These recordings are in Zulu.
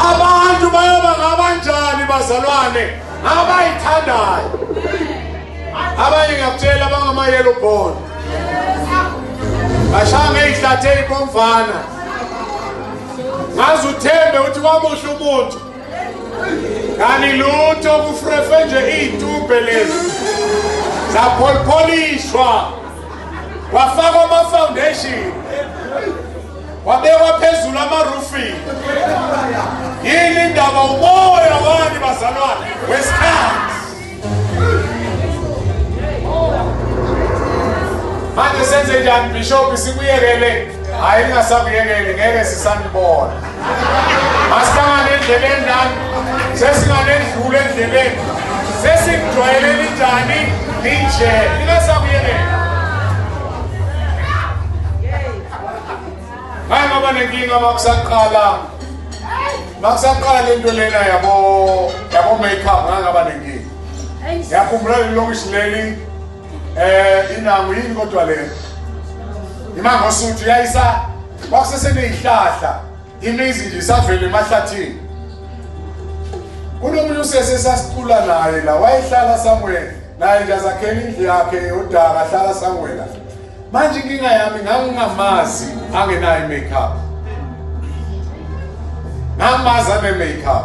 abantu bayoba ngabanjani bazalwane abayithandayo abanye ngiyakutshela abangamayelo bhona bashaya ngey'hlathi ey'bomvana ngaze uthembe ukuthi kwamuhle umuntu kanti lutho kufrefe nje iy'tubhe lezi zapholipholishwa kwafakwa ama-foundation kwabekwa phezulu ama-roofing yini indaba umoya wani bazalwane wesikhathi manje senze njani bishop sikuyekele hhayi ningasakuyekeli ngeke sisanibona Masibanga nendleleni lami. Sesinganendlule endleleni. Sesijwayele linjani linje. Lingasakuyelela. Hayi ngoba nenkinga makusaqala. Makusaqala lento lena yabo yabo makeup ngangaba nenkinga. Yakhumbula lelokisi leli eh inangu yini kodwa lena? Imangosuthu yayisa kwakuseseneyihlahla imizi nje savele emahlathini kunomunye usese sasicula naye la wayehlala somewhere naye nje azakhela indlu yakhe yodaka ahlala somewhere la manje inkinga yami ngangingamazi angenayo i-makeup ngamazi ane-makeup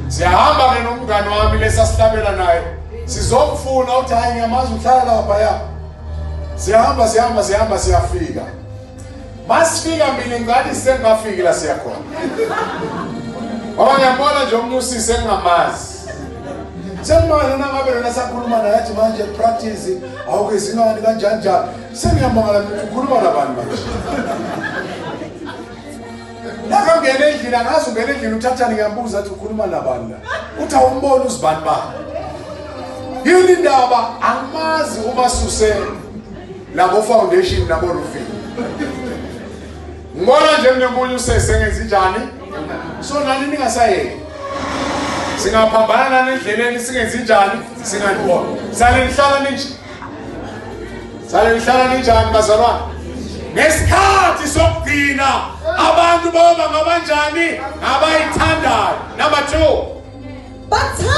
siyahamba-ke nomngane wami lesasihlabela naye sizomfuna ukuthi hhayi ngiyamazi uhlala laphaya siyahamba siyahamba siyahamba siyafika masifika mina ngani sengafiki la siyakhona ngoba ngiyambona nje omunye usisi engingamazi sengimangale nangabe lona sakhuluma naye athi manje practice awukezingani kanjani njani sengiyamangala ukhuluma nabantu manje nakangena endlini angazi ungena endlini uthathani ngiyambuza athi ukhuluma nabani la uthi awumboni uzibani bani yini ndaba angimazi uma susele nabo foundation nabo roofing ngibona nje mnemunye usese ngenza njani so nani ningasayeki singaphambana nani endleleni singenzi njani singanibona sale nihlala ninje sale nihlala ninjani bazalwane ngesikhathi sokugcina abantu boba ngabanjani abayithandayo number 2 bathanda